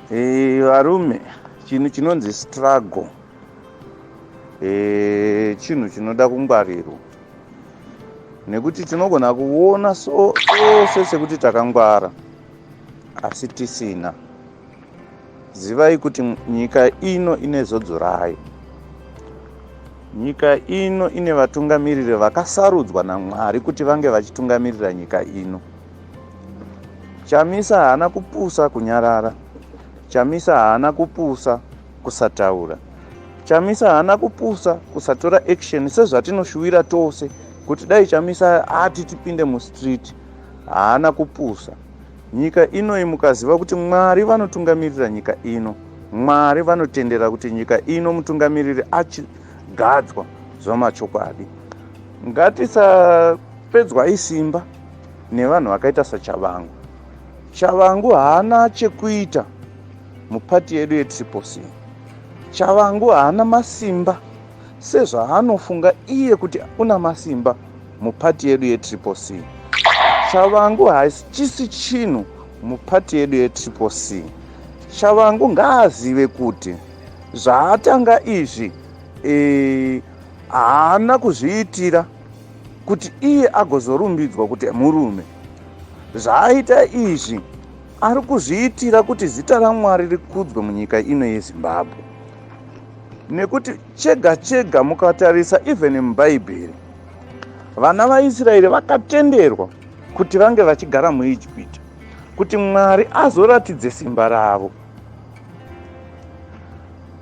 Hey, eh, varume chinhu chinonzi struggle Eh, chinhu chinoda kungwarirwa nekuti tinogona kuona sose sekuti takangwara asi tisina zivai kuti nyika ino ine zodzo rayo nyika ino ine vatungamiriri vakasarudzwa namwari kuti vange vachitungamirira nyika ino Chamisa haana kupusa kunyarara. Chamisa haana kupusa kusataura. Chamisa haana kupusa kusatora action sezvatinoshuwira tose kuti dai Chamisa ati tipinde mustreet. Haana kupusa. Nyika inoyi mukaziva kuti Mwari vanotungamirira nyika ino. Mwari vanotendera kuti nyika ino mutungamiriri achigadzwa zvamachokwadi. Ngatisapedzwa isimba. nevanhu vakaita sachavangu chavangu haana chekuita mupati yedu yetriposi chavangu haana masimba sezvaanofunga iye kuti una masimba mupati yedu yetriposi chavangu hachisi chinhu mupati yedu yetriposi chavangu ngaazive kuti zvaatanga izvi eh, haana e, kuzviitira kuti iye agozorumbidzwa kuti murume. Zvaaita izvi ari kuzviitira kuti zita raMwari rikudzwe munyika ino yeZimbabwe. Nekuti chega chega mukatarisa even muBhaibheri, vana vaIsraeri vakatenderwa kuti vange vachigara muIjipiti kuti Mwari azoratidze simba ravo.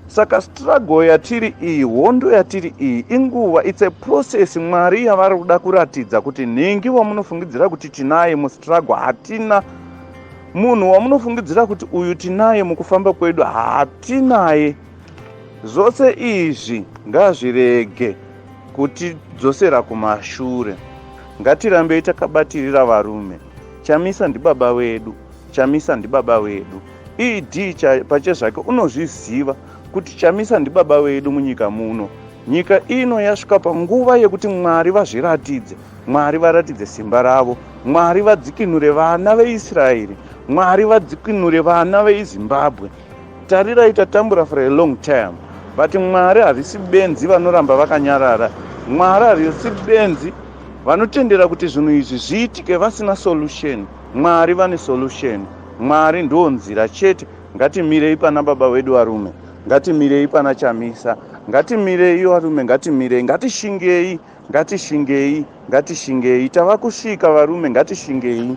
Saka struggle yatiri iyi, hondo yatiri iyi inguva, it's a process Mwari yavari kuda kuratidza kuti nhingi wamunofungidzira kuti tinaye mustruggle hatina munhu wamunofungidzira kuti uyu tinaye mukufamba kwedu hatinaye zvose izvi ngazvirege kutidzosera kumashure ngatirambei takabatirira varume Chamisa ndibaba vedu, Chamisa ndibaba vedu. ED cha, pachezvake unozviziva kuti Chamisa ndibaba vedu munyika muno. Nyika ino yasvika panguva yekuti Mwari vazviratidze, Mwari varatidze simba ravo, Mwari vadzikinure vana veIsraeri, Mwari vadzikinure vana veIzimbabwe. Tarirai tatambura for a long time but Mwari havisi benzi vanoramba vakanyarara. Mwari havisi benzi vanotendera kuti zvinhu izvi zviitike vasina solution. Mwari vane solution. Mwari ndo nzira chete. Ngatimirei pana baba wedu varume. Ngatimirei pana Chamisa. Ngatimirei varume ngatimirei ngatishingei ngatishingei ngatishingei tava kusvika varume ngatishingei.